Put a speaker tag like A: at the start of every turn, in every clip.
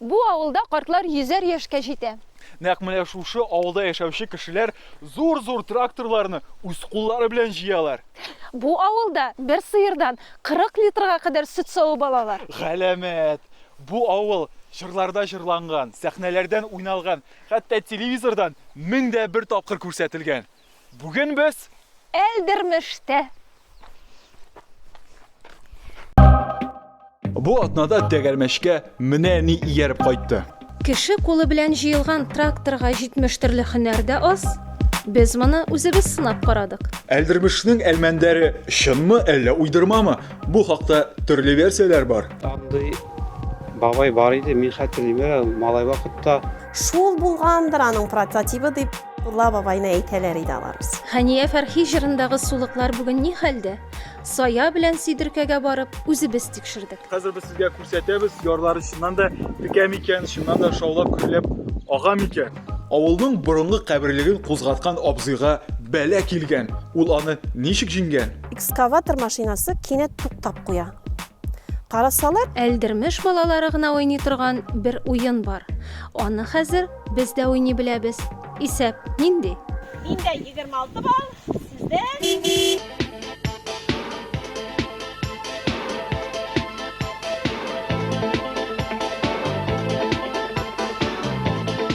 A: Бу авылда картлар йөзәр яшькә җитә. Нәкъ менә шушы
B: авылда яшәүче кешеләр зур-зур тракторларны үз куллары белән җыялар. Бу авылда
A: бер сыердан 40 литрга кадәр сөт савып алалар. Галәмәт!
B: Бу авыл җырларда җырланган, сәхнәләрдән уйналган, хәтта телевизордан мең дә бер тапкыр күрсәтелгән. Бүген без Әлдермештә. Бу атнада тәгәрмәчкә менә ни ияреп кайтты. Кеше кулы
A: белән җыелган тракторга 70 төрле һөнәр дә аз. Без моны үзебез сынап карадык. Әлдермешнең
B: Әлмәндәре чынмы, әллә уйдырмамы? Бу хакта төрле версияләр бар. Андый
C: бабай бар иде, мин хәтерлим әле, малай вакытта. Шул
D: булгандыр аның прототибы, дип Мулла бабайны әйтәләр иде аларыбыз. Хәния Фәрхи
A: җырындагы сулыклар бүген ни хәлдә? Сая белән Сидеркәгә барып, үзебез тикшердек. Хәзер без сезгә
B: күрсәтәбез, ярлары чыннан да текә микән, чыннан да шаулап гөрләп ага микән? Авылның борынгы каберлеген кузгаткан абзыйга бәла килгән, ул аны ничек җиңгән? Экскаватор машинасы
D: кинәт туктап куя. Карасалар, Әлдермеш
A: балалары гына уйный торган бер уен бар. Аны хәзер без дә уйный беләбез. Исәп нинди? Миндә
D: 26 балл, сездә?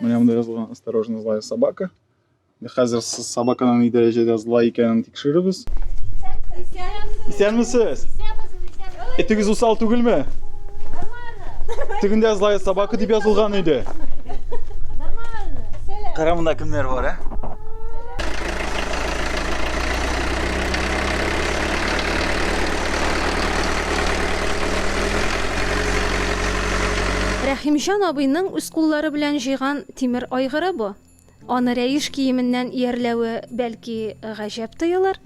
B: Менә монда язылган осторожно злая собака. Хәзер собаканың ни дәрәҗәдә злай икәнен тикшерербез. Исәнмесез! Этегез усал түгелме? Тегендә злая собака дип язылган иде. Кара монда кемнәр бар, ә?
A: Рәхимҗан абыйның үз куллары белән җыйган тимер айгыры бу. Аны рәеш киеменнән иярләве, бәлки, гаҗәп тоелыр.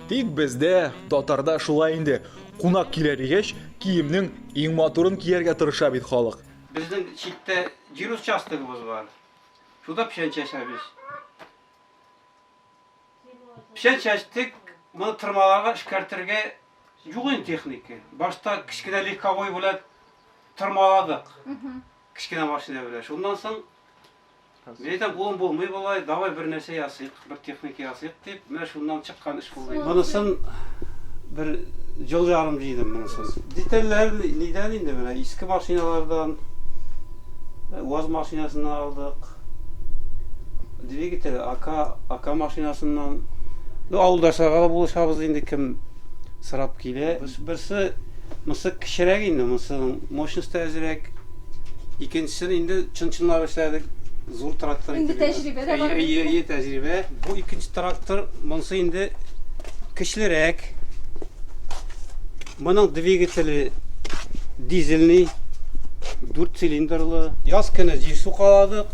A: Тик бездә,
B: татарда шулай инде, кунак килә дигәч, киемнең иң матурын кияргә тырыша бит халык. Безнең читтә
C: җир участогыбыз бар. Шунда печән чәчәбез. Печән чәчтек, моны тырмаларга эшкәртергә юк инде техника. Башта кечкенә легковой белән тырмаладык. Кечкенә машина белән. Шуннан соң Мин әйтәм, кулым булмый болай, давай бер нәрсә ясыйк, бер техника ясыйк дип, менә шуннан чык Монысын бер ел ярым җыйдым монысын. Детальләр нидән инде менә иске машиналардан УАЗ машинасыннан алдык. Двигатель АК, АК машинасыннан. Ну, авылдашларга да булышабыз инде кем сорап Бе, берсе мысы кечерәк инде, мысының мощносте әзрәк. Икенчесен инде чын-чынлап эшләдек, зур трактор итеп. Инде тәҗрибә дә бар. Әйе,
A: әйе, тәҗрибә.
C: Бу икенче трактор, монсы инде көчлерәк. Моның двигателе дизельный, дүрт цилиндрлы. Яз көне җил сукаладык.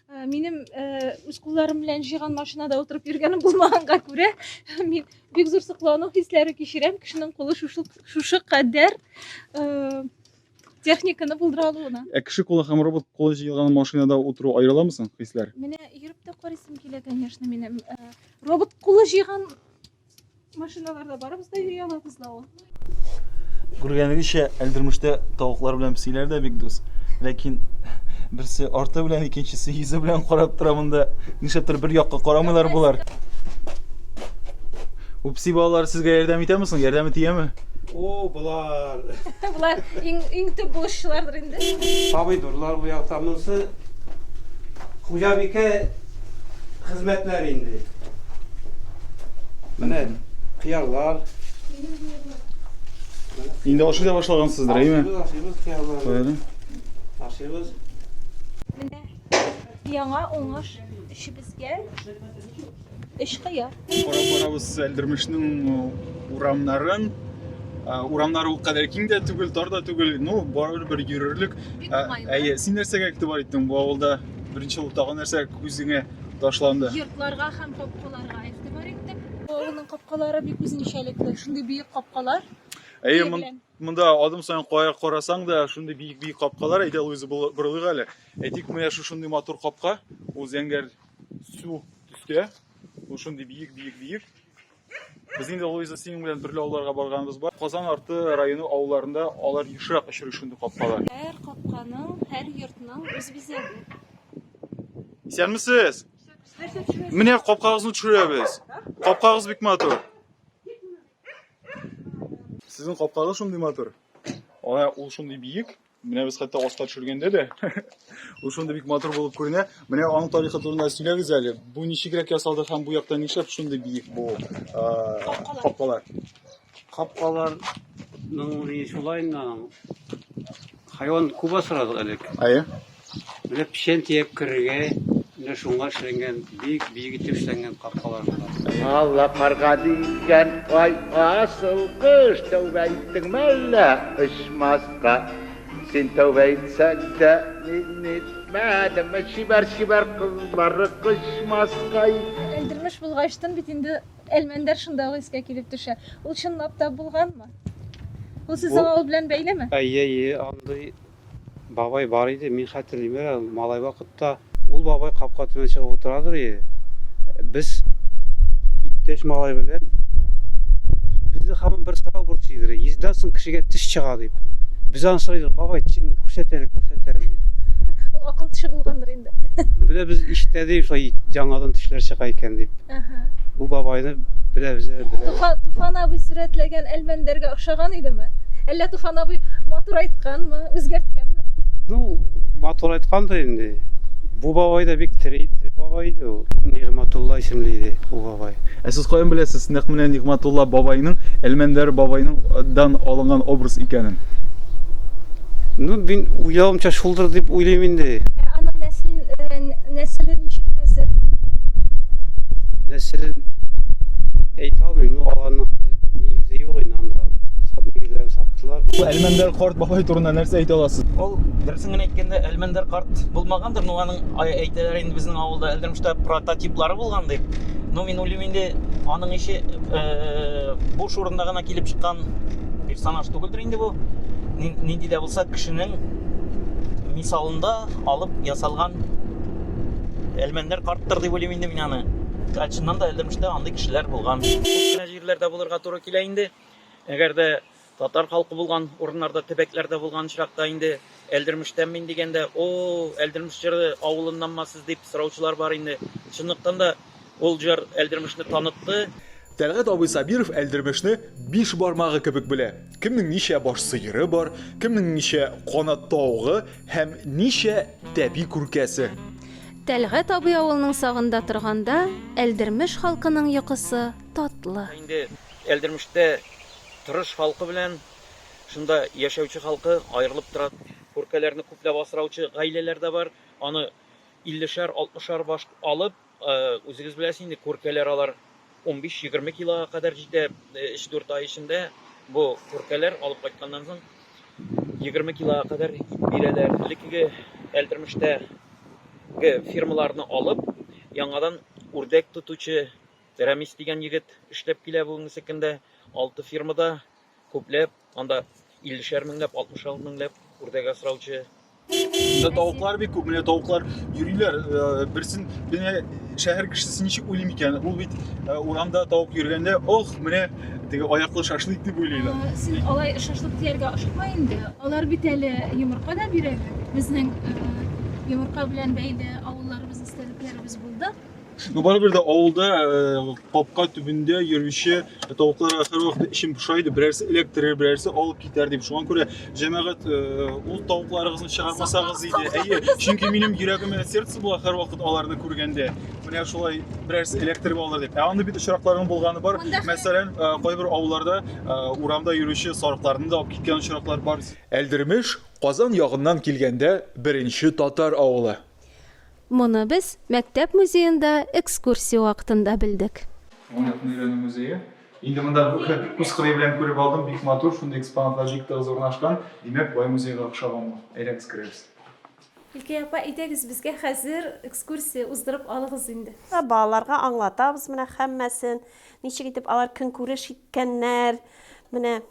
B: Ә, минем ә,
A: үз кулларым белән җыйган машинада утырып йөргәнем булмаганга күрә мин бик зур соклану хисләре кичерәм кешенең кулы шушы, шушы кадәр ә, техниканы булдыра алуына ә кеше кулы һәм робот
B: кулы җыелган машинада утыру аерыламы соң хисләр менә йөреп тә
A: карыйсым килә конечно минем ә, робот кулы җыйган Машиналарда барыбыз да йөри алабыз да ул.
B: Күргәнегезчә, Әлдермештә тавыклар белән песиләр дә бик дус. Ләкин берсе арты белән, икенчесе йөзе белән карап тора монда. Нишләптер бер якка карамыйлар болар. Бу песи балалар сезгә ярдәм итәме соң? Ярдәме тияме? О,
C: болар. Болар
A: иң иң
C: төп булышчылардыр
A: инде. Помидорлар уятамысы.
C: Хуҗабикә хезмәтләр инде. Менә кыярлар.
B: Инде ашый да башлагансыздыр, әйме? Ашыйбыз
C: кыярларны.
B: Ашыйбыз.
A: Менә яңа уңыш эшебезгә. Эш кыяр. Карап барабыз
B: Әлдермешнең урамнарын. Урамнар ул кадәр киң дә түгел, тар да түгел. Ну, барыбер бер йөрерлек. Әйе,
A: син нәрсәгә игътибар
B: иттең бу авылда? Беренче ул тагы нәрсә күзеңә ташланды? Йортларга һәм
A: капкаларга игътибар иттек. Авылның капкалары бик үзенчәлекле. Шундый биек капкалар. Әйе,
B: монда
A: адым саен
B: кая карасаң да шундый бийик бийик капкалар әйдә луиза борылыйк әле әйтик менә шушындый матур капка ул зәңгәр су төстә Ул шундый биек, биек, биек. Без инде Луиза синең белән төрле авылларга барганыбыз бар. Казан арты районы авылларында алар ешрак очрый шундый капкалар. Һәр капканың,
A: һәр йортның үз бизәге. Исәнмесез!
B: Менә капкагызны төшерәбез. Капкагыз бик матур. Сезнең капкагыз шундый матур. Ана ул шундый биек. Менә без хәтта аска төшергәндә дә ул шундый бик матур булып күренә. Менә аның тарихы турында сөйләгез әле. Бу ничегрәк ясалды һәм бу яктан нишләп шундый биек бу капкалар? Капкалар
C: ну, шулай хайван күп асрадык элек. Әйе.
B: Менә
C: печән төяп керергә, менә шуңа эшләнгән, бик биек итеп эшләнгән капкалар болар. Алла карга
E: дигән ай асыл кош, тәүбә иттеңме әллә очмаска? Син тәүбә итсәң дә, мин итмәдем, чибәр-чибәр кызлары кочмаска иде. Элдермеш
A: булгач тын бит инде, Әлмәндәр шунда ук искә килеп төшә. Ул чынлап та булганмы? Ул сүз аңа ул белән бәйлеме? Әйе, әйе, андый.
C: Бабай бар иде, мин хәтерлим әле, малай вакытта. Ул бабай капка төбенә чыгып утырадыр ие. Без иптәш малай белән безне һаман бер сорау борчый иде, йөздән соң кешегә теш чыга дип. Без аны сорыйбыз, бабай, тешеңне күрсәт әле, күрсәт әле дип. Ул акыл
A: теше булгандыр инде. Менә без
C: ишетәдек, шулай яңадан тешләр чыга икән дип. Бу бабайны беләбез әле. Туфан, Туфан абый
A: сурәтләгән Әлмәндәргә охшаган идеме? Әллә Туфан абый матур айтканмы, үзгәрткәнме? Ну,
C: матур айткан да инде. Бу бабай да бик тире, тире бабай иде ул. Нигъматулла исемле иде бу бабай. Ә сез каян беләсез,
B: нәкъ менә Нигъматулла бабайның, Әлмәндәр бабайның дан алынган образ икәнен?
C: Ну, мин уйлавымча шул булдыр дип уйлыйм инде. Ә аның
A: нәсел, э, нәселе ничек хәзер?
C: Нәселен әйтә алмыйм, ну аларның нигезе юк инде анда. Сат нигезләрен саттылар. Бу Әлмәндәр карт
B: бабай турында нәрсә әйтә аласыз? Ул дөресен генә
F: әйткәндә Әлмәндәр карт булмагандыр, но аның әйтәләр инде безнең авылда Әлдермештә прототиплары булган дип. Но мин уйлыйм инде аның ише э, бу шурында гына килеп чыккан персонаж түгелдер инде бу. Нинди дә булса кешенең мисалында алып ясалган Әлмәндәр карттыр дип уйлыйм инде мин аны. Чыннан да Әлдермештә андый кешеләр булган. Күп кенә җирләрдә булырга туры килә инде. Әгәр дә татар халкы булган урыннарда, төбәкләрдә булган очракта инде Әлдермештән мин дигәндә, о, Әлдермеш җыры авылыннанмы сез дип сораучылар бар инде. Чынлыктан да Ул җыр Әлдермешне танытты. Тәлгать абый
B: Сабиров Әлдермешне биш бармагы кебек белә. Кемнең ничә баш сыеры бар, кемнең ничә канат тавыгы һәм ничә тәби күркәсе. Тәлгать
G: абый авылның сагында торганда, Әлдермеш халкының йокысы татлы. Инде
F: Әлдермештә тырыш халкы белән шунда яшәүче халкы аерылып тора. Күркәләрне күпләп асраучы гаиләләр дә бар. Аны Иллешәр, алтмышар баш алып, үзегез беләсез инде, күркәләр алар унбиш-егерме килога кадәр җитә, өч-дүрт ай эчендә бу күркәләр алып кайтканнан соң егерме килога кадәр ит бирәләр. Элеккеге Әлдермештәге фермаларны алып, яңадан үрдәк тотучы Рәмис дигән егет эшләп килә бүгенге көндә, алты фермада. Күпләп, анда иллешәр меңләп, алтмышар меңләп үрдәк асраучы. Монда
B: тавыклар бик күп, менә тавыклар йөриләр. Э, берсен менә шәһәр кешесе ничек уйлый микән? Ул бит э, урамда тавык йөргәндә, ох, менә теге аяклы шашлык дип уйлыйлар. Э, син алай шашлык
A: дияргә ашыкма инде. Алар бит әле йомырка да бирәләр. Безнең йомырка белән бәйле авылларыбыз, истәлекләребез булды. Ну,
B: барыбер дә авылда э, капка төбендә йөрүче тавыкларга һәрвакыт эчем поша иде. Берәрсе эләктерер, берәрсе алып китәр дип. Шуңа күрә җәмәгать э, ул тавыкларыгызны чыгармасагыз иде. Әйе, чөнки минем йөрәгемә сердце була һәрвакыт аларны күргәндә. Менә шулай берәрсе эләктереп алыр дип. Ә аны бит очракларның булганы бар. Мәсәлән, э, кайбер авылларда э, урамда йөрүче сарыкларны да алып киткән очраклар бар. Әлдермеш Казан ягыннан килгәндә беренче татар авылы. Моны
G: без мәктәп музеенда экскурсия вакытында белдек. Аңлатма өйрәнү
B: музее. Инде монда күз кырые белән күреп алдым, бик матур, шундый экспонатлар бик тыгыз урнашкан, димәк, бай музейга охшаган бу. Әйдәгез, керәбез. Гөлкәй апа,
A: әйдәгез, безгә хәзер экскурсия уздырып алыгыз инде. Балаларга
D: аңлатабыз менә һәммәсен, ничек итеп алар көнкүреш иткәннәр, менә.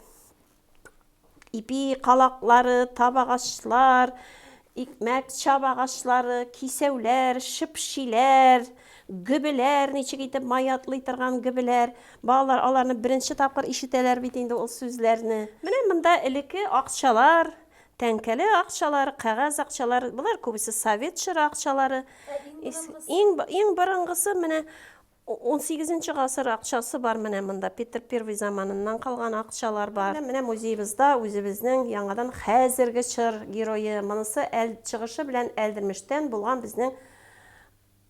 D: ипи калаклары, табагачлар, икмәк чабагачлары, кисәүләр, шыпшиләр, гөбеләр, ничек итеп май атлый торган гөбеләр. Балалар аларны беренче тапкыр ишетәләр бит инде ул сүзләрне. Менә монда элекке акчалар, тәңкәле акчалар, кәгазь акчалар, болар күбесе совет чоры акчалары. Иң, иң борынгысы менә Унсигезенче гасыр акчасы бар менә монда, Петр Первый заманыннан калган акчалар бар. Менә музеебызда үзебезнең яңадан хәзерге чор герое, монысы әл чыгышы белән Әлдермештән булган безнең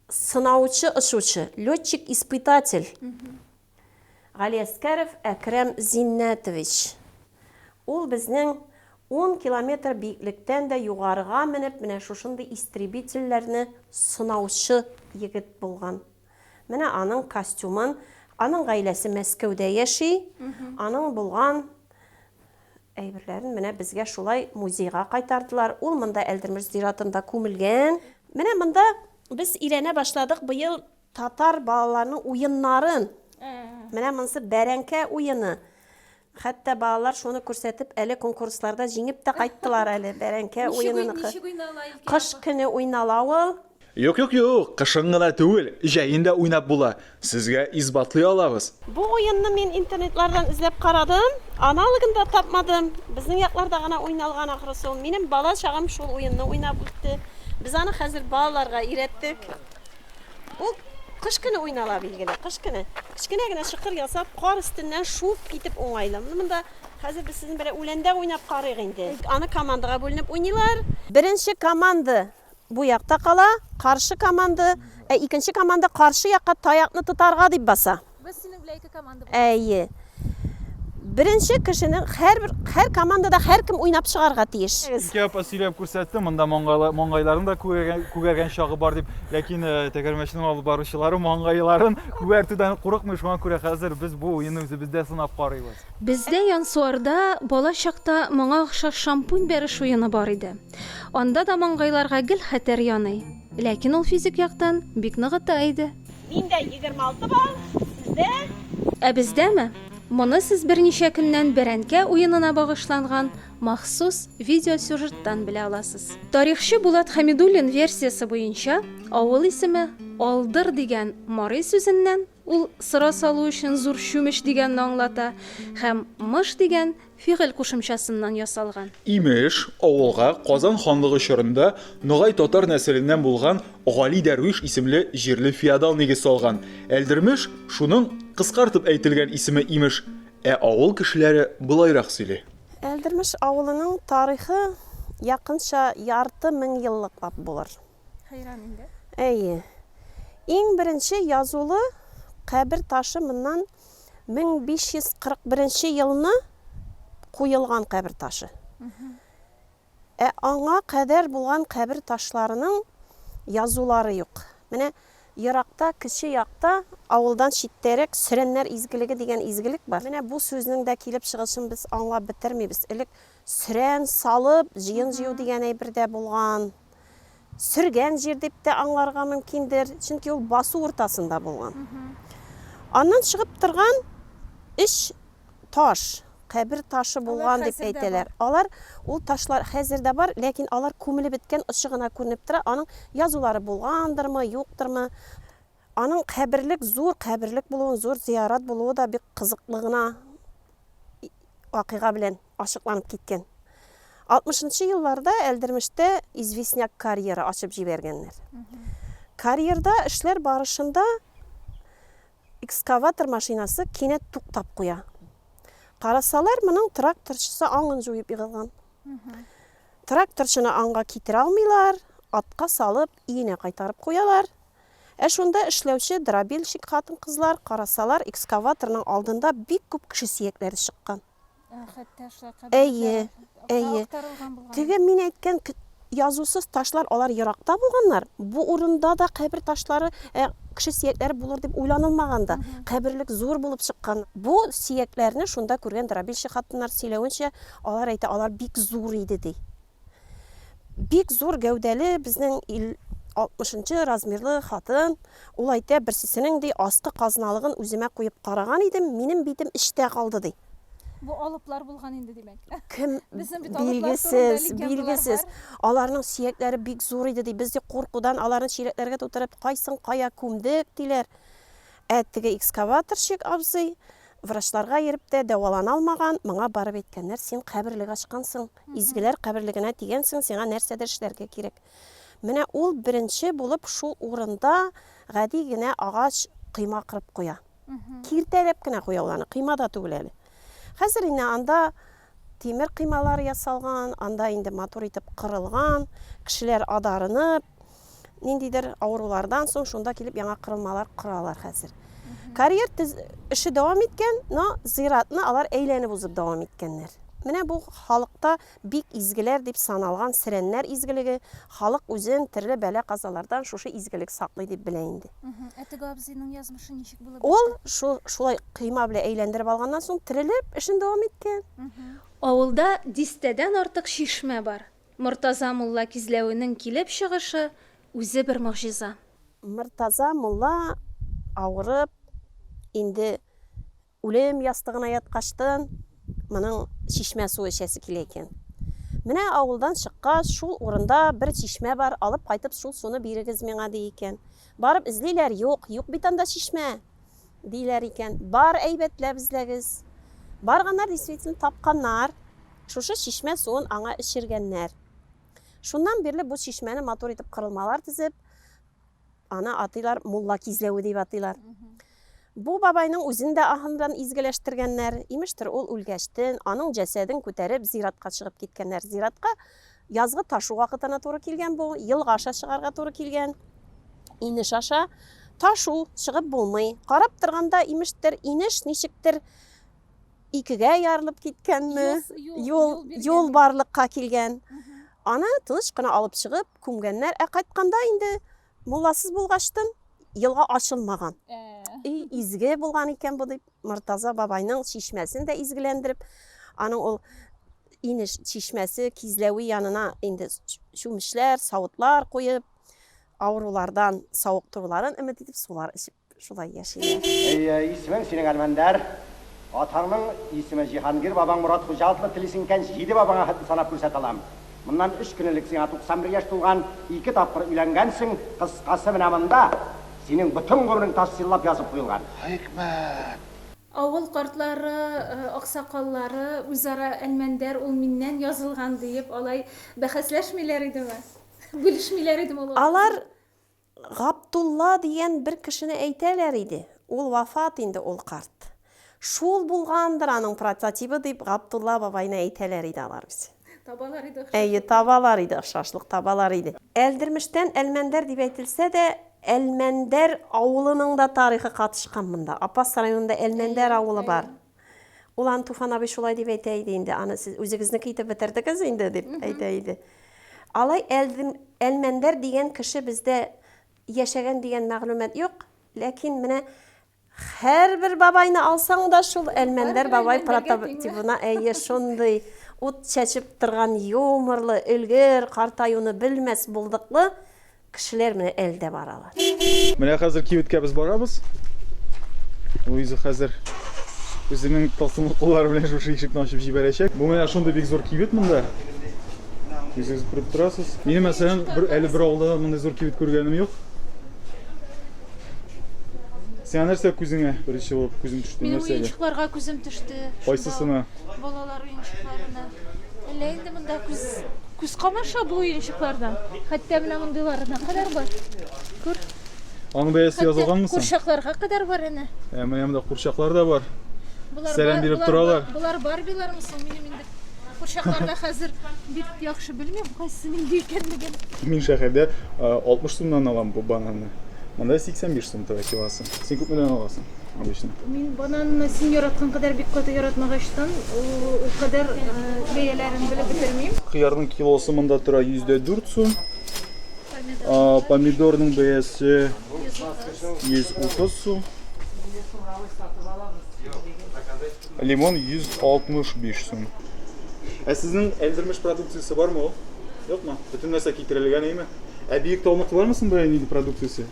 D: сынаучы очучы, летчик-испытатель Галиәскәров Әкрәм Зиннәтович. Ул безнең ун километр биеклектән дә югарыга менеп, менә шушындый истребительләрне сынаучы егет булган. Менә аның костюмын, аның гаиләсе Мәскәүдә яши, аның булган әйберләрен менә безгә шулай музейга кайтардылар. Ул монда Әлдермеш зиратында күмелгән. Менә монда без өйрәнә башладык быел татар балаларының уеннарын. Менә монысы бәрәңкә уены. Хәтта балалар шуны күрсәтеп әле конкурсларда җиңеп тә кайттылар әле, бәрәңке уеныныкы. Кыш көне уйнала ул. Юк, юк, юк,
B: кышын гына түгел, җәен дә уйнап була, сезгә исбатлый алабыз. Бу уенны мин
D: интернетлардан эзләп карадым, аналогын да тапмадым. Безнең якларда гына уйналган ахрысы ул. Минем бала чагым шул уенны уйнап үтте. Без аны хәзер балаларга өйрәттек. Ул кыш көне уйнала билгеле, кыш көне. Кечкенә генә чокыр ясап, кар өстеннән шуып китеп уңайлы. Менә монда хәзер без сезнең белән үләндә уйнап карыйк инде. Аны командага бүленеп уйныйлар. Беренче команда бу якта кала, каршы команда, ә икенче команда каршы якка таякны тотарга дип баса. Без
A: синең белән ике команда булдык.
D: Әйе. Беренче кешенең һәрбер һәр командада һәркем уйнап чыгарга тиеш. Ике апа сөйләп
B: күрсәтте, монда маңгайлар, маңгайларын да күгәргән, күгәргән чагы бар дип, ләкин э, тәгәрмәчнең алып баручылары маңгайларын күгәртүдән курыкмый, шуңа күрә хәзер без бу уенны үзебездә сынап карыйбыз. Бездә Янсуарда
G: бала чакта моңа охшаш шампунь бәреш уены бар иде. Анда да маңгайларга гел хәтәр яный. Ләкин ул физик яктан бик ныгыта иде.
D: Миндә егерме алты балл, сездә? Ә
G: бездәме? Моны сез берничә көннән бәрәнкә уенына багышланган махсус видеосюжеттан белә аласыз. Тарихчы Булат Хәмидуллин версиясе буенча, авыл исеме Алдыр дигән марый сүзеннән, ул сыра салу өчен зур чүмеч дигәнне аңлата, һәм мыш дигән Фигыль кушымчасыннан ясалган. Имеш,
B: авылга Казан ханлыгы чорында ногай татар нәселеннән булган Гали дәрвиш исемле җирле феодал нигез салган. Әлдермеш, шуның кыскартып әйтелгән исеме, имеш. Ә авыл кешеләре болайрак сөйли. Әлдермеш
D: авылының тарихы якынча ярты меңьеллыклап булыр. Хәйран
A: инде. Әйе.
D: Иң беренче язулы кабер ташы моннан 1541 елны куелган кабер ташы. Ә аңа кадәр булган кабер ташларының язулары юк. Менә еракта, кече якта, авылдан читтәрәк Сөрәннәр изгелеге дигән изгелек бар. Менә бу сүзнең дә килеп чыгышын без аңлап бетермибез. Элек Сөрән салып, җыен җыю дигән әйбер дә булган. Сөргән җир дип тә аңларга мөмкиндер, чөнки ул басу уртасында булган. Аннан чыгып торган өч таш, кабер ташы булган дип әйтәләр. Алар, ул ташлар хәзер дә бар, ләкин алар күмелеп беткән, очы гына күренеп тора, аның язулары булгандырмы, юктырмы. Аның каберлек, зур каберлек булуын, зур зиярат булуы да бик кызыклы гына вакыйга белән ачыкланып киткән. 60 нчы елларда Әлдермештә известняк карьеры ачып җибәргәннәр. Карьерда эшләр барышында экскаватор машинасы кинәт туктап куя. Карасалар, моның тракторчысы аңын җуеп егылган. Тракторчыны аңга китерә алмыйлар, атка салып, өенә кайтарып куялар. Ә шунда эшләүче дробильщик хатын-кызлар карасалар, экскаваторның алдында бик күп кеше сөякләре чыккан. Әйе, әйе. Теге мин әйткән язусыз ташлар алар еракта булганнар. Бу урында да кабер ташлары, ә, кеше сөякләре булыр дип уйланылмаган да. Каберлек зур булып чыккан. Бу сөякләрне шунда күргән дробильщик хатыннар сөйләвенчә, алар әйтә, алар бик зур иде ди. Бик зур гәүдәле безнең ил 60-нчы размерлы хатын, ул әйтә, берсесенең ди аскы казналыгын үземә куеп караган идем, минем битем эчтә калды ди. Бу алыплар
A: булган инде, димәк. Кем
D: билгесез, билгесез. Аларның сөякләре бик зур иде ди. Без ди куркудан аларны чиләкләргә тутырып, кайсын кая күмдек, диләр. Ә теге экскаваторщик абзый врачларга йөреп тә дәвалана алмаган, моңа барып әйткәннәр, син каберлек ачкансың. Изгеләр каберлегенә дигәнсең сиңа нәрсәдер эшләргә кирәк. Менә ул беренче булып шул урында гади генә агач кыйма кырып куя. Киртәләп кенә куя ул аны, кыйма да түгел әле. Хәзер инде анда тимер кыймалар ясалган, анда инде матур итеп кырылган, кешеләр адарынып, ниндидер авырулардан соң шунда килеп яңа кырылмалар коралар хәзер. Карьер эше дәвам иткән, но зиратны алар әйләнеп узып дәвам иткәннәр. Менә бу халыкта бик изгеләр дип саналган сирәннәр изгелеге, халык үзен төрле бәла казалардан шушы изгелек саклый дип белә инде. Ә теге абзыйның
A: язмышы ничек булып? Ул шул шулай
D: кыйма белән әйләндереп алганнан соң терелеп эшен дәвам иткән. Авылда
G: дистәдән артык чишмә бар. Мортаза мулла кизләвенең килеп чыгышы үзе бер могҗиза. Мортаза
D: мулла авырып, инде үлем ястыгына яткачтын, моның чишмә суы эчәсе килә икән. Менә авылдан чыккач, шул урында бер чишмә бар, алып кайтып, шул суны бирегез миңа, ди икән. Барып эзлиләр, юк, юк бит анда чишмә. диләр икән. Бар, әйбәтләп эзләгез. Барганнар, действительно, тапканнар. Шушы чишмә суын аңа эчергәннәр. Шуннан бирле бу чишмәне матур итеп кырылмалар тезеп, аны атыйлар Мулла кизләве дип атыйлар. Бу бабайның үзен дә аһындан изгеләштергәннәр. Имештер, ул үлгәчтен, аның җәсәден күтәреп, зиратка чыгып киткәннәр. Зиратка Язгы ташу вакытына туры килгән бу, елга аша чыгарга туры килгән. Инеш аша ташу чыгып булмый. Карап торганда, имештер, инеш ничектер икегә ярылып киткәнме, юл, юл барлыкка килгән. Аны тыныч кына алып чыгып, күмгәннәр. Ә кайтканда инде Мулласыз булгачтын, елга ачылмаган. И, изге булган икән бу дип, Мортаза бабайның чишмәсен дә изгеләндереп, аның ул инеш чишмәсе кизләве янына инде чүмечләр, савытлар куеп, авырулардан савыктыруларын өмет итеп сулар эчеп Шулай яшиләр. Исемең синең
H: Әлмәндәр. Атаңның исеме Җиһангир, бабаң Морат хуҗа атлы телисең икән, җиде бабаңа хәтле санап күрсәтә алам. Моннан өч көн элек сиңа 91 яшь тулган, ике тапкыр өйләнгәнсең, кыскасы менә монда синең бөтен гомерең ташсиллап язып куелган. Хикмәт!
E: Авыл
A: картлары, аксакаллары үзара Әлмәндәр ул миннән язылган диеп алай бәхәсләшмиләр идеме? Бүлешмиләр идеме ул акылны? Алар
D: Габдулла дигән бер кешене әйтәләр иде, ул вафат инде ул карт. Шул булгандыр аның прототибы дип Габдулла бабайны әйтәләр иде алар үзе. Табалар иде охшашлык.
A: Әйе, табалар иде
D: охшашлык, табалар иде. Әлдермештән Әлмәндәр дип әйтелсә дә, Әлмәндәр авылының да тарихы катышкан монда. Апас районында Әлмәндәр авылы бар. Ул аны Туфан абый шулай дип әйтә иде инде, аны сез үзегезнеке итеп бетердегез инде, дип әйтә иде. Алай Әлдем, Әлмәндәр дигән кеше бездә яшәгән дигән мәгълүмат юк, ләкин менә һәрбер бабайны алсаң да шул Әлмәндәр бабай прототибына әйе шундый ут чәчеп торган юморлы, өлгер, картаюны белмәс булдыклы Кешеләр менә әле дә баралар. Менә хәзер
B: кибеткә без барабыз. Луиза хәзер үзенең тылсымлы куллары белән шушы ишекне ачып җибәрәчәк. Бу менә шундый бик зур кибет монда. Үзегез күреп торасыз. Минем мәсәлән, бер әле бер авылда мондый зур кибет күргәнем юк. Сиңа нәрсә күзеңә беренче булып күзең төште Минем нәрсәгә? уенчыкларга күзем төште.
A: Кайсысына? Балалар уенчыкларына. Әллә инде монда күз Күз камаша бу уенчыкларда. Хәтта менә мондыйларына кадәр бар. Күр. Аның
B: бәясе язылганмы соң? Курчакларга кадәр бар әнә.
A: Ә менә монда курчаклар
B: да бар. Сәлам биреп
A: торалар.
B: Болар
A: барбилармы соң? Минем инде курчакларда хәзер бик яхшы белмим, кайсы нинди икәнлеген. Мин
B: шәһәрдә 60 сумнан алам бу бананны. Монда 85 сум тора килосы. Син күпме дәвам аласың? Мин бананны
A: син яраткан кадәр бик каты яратмагачтан, ул кадәр бәяләрен белеп бетермим. Кыярның килосы
B: монда тора 104 сум. Помидорның бәясе 130 сум. Лимон 165 сум. Ә сезнең Әлдермеш продукциясе бармы ул? Юкмы? Бөтен нәрсә китерелгән әйме? Ә биек таулыкта бармы соң бая нинди продукциясе?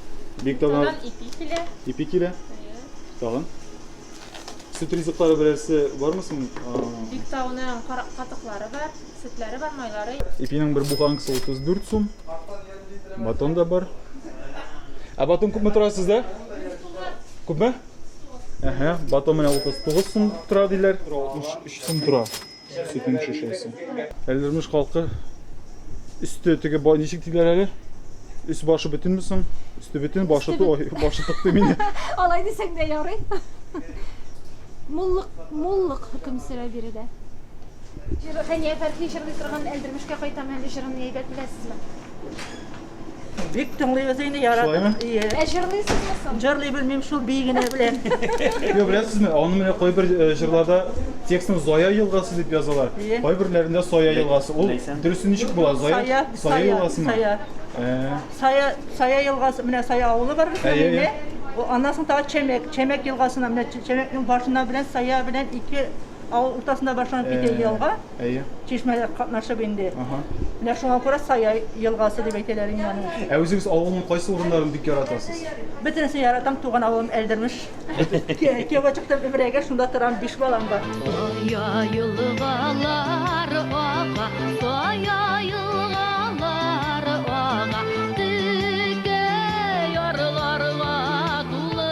B: Биек таулар. Тагын ипи килә. Ипи килә. Тагын. Сөт ризыклары берәрсе бармы соң? Биек тауның
A: катыклары бар, сөтләре бар, майлары. Ипинең бер буханкасы
B: 34 сум. Батон да бар. Ә батон күпме тора сездә? Күпме? Әһә, батон менә 39 сум тора диләр. 63 сум тора. Сөтнең шешәсе. Әлдермеш халкы өсте теге ничек диләр әле? Өс башы бөтенме соң? Өсте бөтен, башы ту, башы тыкты мине. Алай дисәң дә
A: ярый. Муллык, муллык хөкем сөрә биредә. Хәния Фәрхи җырлый торган Әлдермешкә кайтам әле җырын әйбәт беләсезме?
I: Бик тыңлыйбыз инде, яратып. Шулаймы? Ие. Ә
B: җырлыйсызмы
I: соң?
A: Җырлый белмим, шул бии
I: генә беләм. Йо, беләсезме,
B: аны менә кайбер э, җырларда текстны Зая елгасы дип язалар. Ие. Кайберләрендә Сая елгасы. Ул Ләйсән. дөресе ничек була? Зая, Сая, Сая Сая, елгасымы? Сая. Ә, Сая,
I: Сая елгасы, менә Сая авылы бар безнең Әйе, инде. әйе. О, Аннан соң тагы Чәмәк, Чәмәк елгасына, менә Чә- Чәмәкнең башына белән Сая белән ике авыл уртасында башланып китә Ә. елга. Әйе. Чишмәдә катнашып инде. Ага. Менә шуңа күрә Сая елгасы дип әйтәләр инде аны. Ә үзегез авылның кайсы
B: урыннарын бик яратасыз? Бөтенесе яратам,
I: туган авылым Әлдермеш. Кияүгә чыктым Ибрәйгә, шунда торам, биш балам бар. Сая
J: елгалар ага, Сая елгалар ага, Текә ярларга тулы.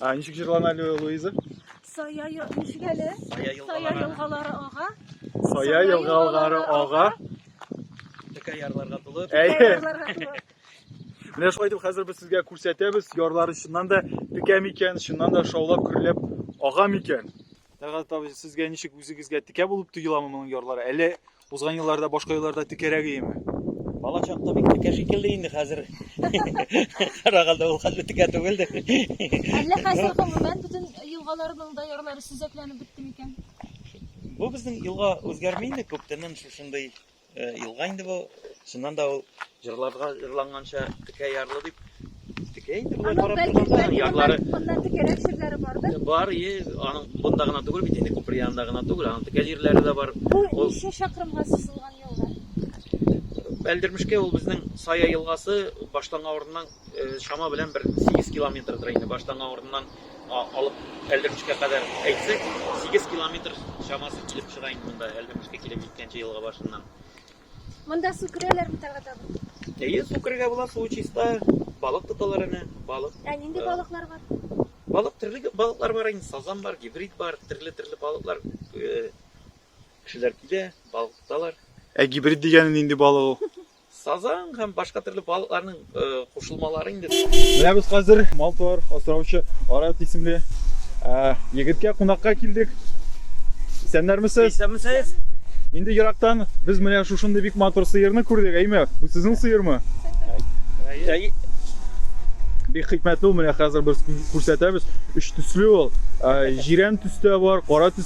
A: А, ничек җырлана әле
B: Луиза? Сая ел- ничек әле?
A: Сая Сая елгалары. елгалары ага. Сая
B: елгалары ага.
F: Текә ярларга тулы. Әйе. Ярларга тулы.
B: Менә шулай итеп хәзер без сезгә күрсәтәбез, ярлары чыннан да текә микән, чыннан да шаулап көрләп ага микән. Тәгат абый, сезгә ничек үзегезгә текә булып тоеламы моның ярлары? Әллә Узган елларда башка елларда текәрәк иеме? Бала чакта
F: бик текә шикелле инде хәзер. Карагалда ул хәтле текә түгелдер. Әллә
A: хәзер гомумән бөтен елгаларның да ярлары сөзәкләнеп бетте микән? Бу
F: безнең елга үзгәрми инде күптәннән шушындый э, елга инде бу. Шуннан да ул Җырларда җырланганча текә ярлы дип текә инде болай карап торганда ярлары моннан текәрәк җирләре
A: бардыр. Бар, и, аның
F: бунда гына түгел бит инде, күпер янында гына түгел, аның текә җирләре дә бар. Бу ничә чакрымга
A: сузылган елга?
F: Әлдермешкә ул безнең Сая елгасы башланган урыннан э, чама белән бер 8 километрдыр инде башланган урыннан алып Әлдермешкә кадәр әйтсәк, 8 километр чамасы килеп чыга инде монда Әлдермешкә килеп җиткәнче елга башыннан. Монда
A: су керәләр бит ага табын. Әйе, су керергә була, су
F: чиста, балык тоталар әнә, балык. Ә нинди балыклар
A: бар? Балык төрле
F: балыклар бар инде, сазан бар, гибрид бар, төрле-төрле балыклар. Э, кешеләр килә, балык тоталар. Ә гибрид дигәне
B: нинди балык ул? Сазан һәм
F: башка төрле балыкларның кушылмалар инде. Менә без хәзер
B: мал-туар асраучы Арат исемле егеткә кунакка килдек. Исәннәрмесез? Исәнмесез.
F: Инде ерактан
B: без менә шушындый бик матур сыерны күрдек, әйме? Бу сезнең сыермы? Әй. Бик хикмәтле ул, менә хәзер без күрсәтәбез. Өч төсле ул. Җирән төстә бар, кара төстә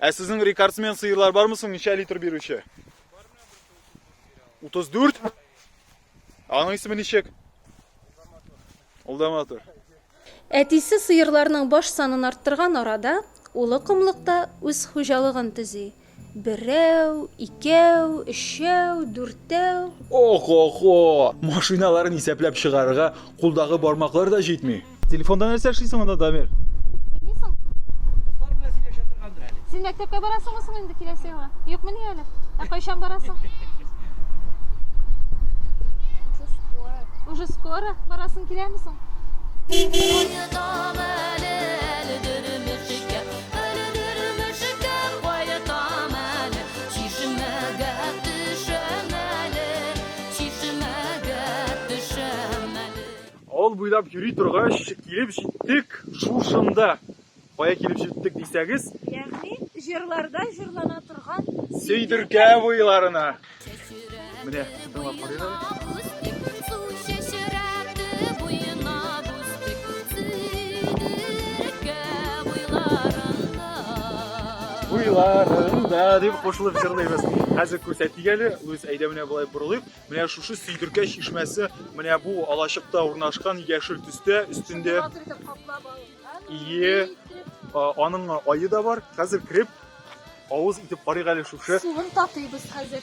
B: Ә сезнең рекордсмен сыерлар бармы соң, ничә литр бирүче? 34? Аның исеме ничек? Ул да матур. Әтисе
G: сыерларның баш санын арттырган арада, улы комлыкта үз хуҗалыгын төзи. Берәү, икәү, өчәү, дүртәү. Ох-охо!
B: Машиналарын исәпләп чыгарырга кулдагы бармаклар да җитми. Телефонда нәрсә эшлисең анда, Дамир? Уйныйсың?
A: Кызлар белән сөйләшә торгандыр әле. Син мәктәпкә барасыңмы соң инде киләсе елга? Юкмыни әле? Ә кайчан барасың? Уже скоро. Уже скоро барасың киләме соң?
B: Авыл буйлап йөри торгач, килеп җиттек шушында. Кая килеп җиттек дисәгез? Ягъни,
A: җырларда җырлана торган Сөйдеркә
B: буйларына. Менә, тыңлап карыйк. Буйларында дип кушылып җырлыйбыз. Хәзер күрсәтик әле. Луис, әйдә менә болай борылыйк. Менә шушы сөйдеркә чишмәсе менә бу алачыкта урнашкан яшел төстә өстендә. Ие, аның айы да бар. Хәзер кереп авыз итеп карыйк әле шушы. Суын татыйбыз
A: хәзер.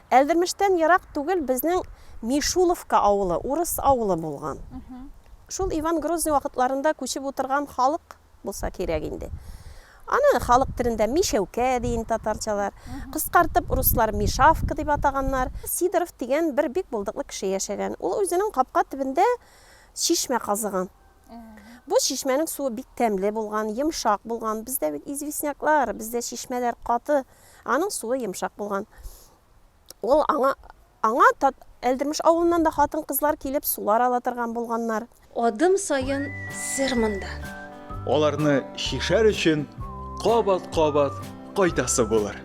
D: Әлдермештән ерак түгел безнең Мишуловка авылы, урыс авылы булган. Шул Иван Грозный вакытларында күчеп утырган халык булса кирәк инде. Аны халык телендә Мишәүкә ди инде татарчалар. Кыскартып руслар Мишавка дип атаганнар. Сидоров дигән бер бик булдыклы кеше яшәгән. Ул үзенең капка төбендә чишмә казыган. Бу чишмәнең суы бик тәмле булган, йомшак булган. Бездә бит известняклар, бездә чишмәләр каты. Аның суы йомшак булган. Ул аңа аңа Әлдермеш авылыннан да хатын-кызлар килеп сулар ала торган булганнар. Адым саен
G: сер монда. Аларны
B: чишәр өчен кабат-кабат кайтасы булыр.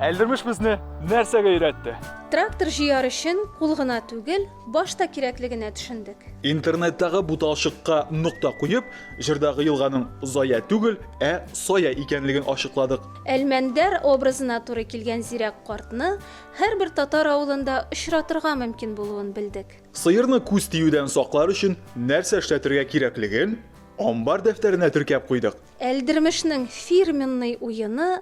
B: Әлдермеш безне нәрсәгә өйрәтте? Трактор җыяр
G: өчен кул гына түгел, Башта кирәклегенә төшендек. Интернеттагы
B: буталчыкка нокта куеп, җырдагы елганың Зая түгел, ә Сая икәнлеген ачыкладык. Әлмәндәр
G: образына туры килгән зирәк картны һәрбер татар авылында очратырга мөмкин булуын белдек. Сыерны күз
B: тиюдән саклар өчен нәрсә эшләтергә кирәклеген амбар дәфтәренә теркәп куйдык. Әлдермешнең
G: фирменный уены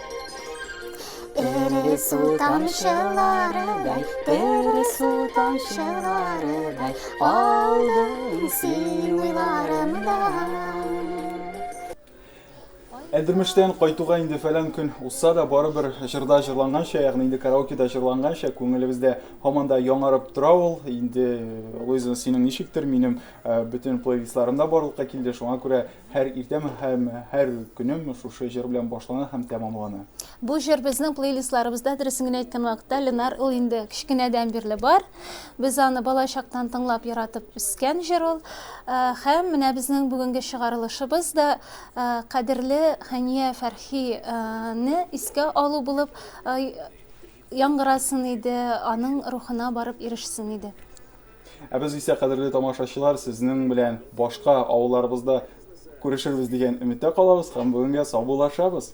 K: Тере су тамчыларыдай, тере су тамчыларыдай, алдың син
B: уйларымда. Әдермештән кайтуга инде фәлән көн узса да, барыбер җырда җырланганча, ягъни инде караокеда җырланганча, күңелебездә һаман да яңарып тора ул. Инде, Луиза, синең ничектер, минем э, бөтен плейлистларым да барлыкка килде, шуңа күрә Һәр иртәм һәм һәр көнем шушы җыр белән башлана һәм тәмамлана. Бу җыр безнең
G: плейлистларыбызда, дөресен генә әйткән вакытта, Ленар ул инде кечкенәдән бирле бар. Без аны балачактан тыңлап, яратып үскән җыр ул. Һәм менә безнең бүгенге чыгарылышыбыз да кадерле Хәния Фәрхи не искә алу булып яңгырасын иде, аның рухына барып ирешсен иде. Ә без
B: исә, кадерле тамашачылар, сезнең белән башка авылларыбызда күрешербез дигән өметтә калабыз һәм бүгенгә саубуллашабыз.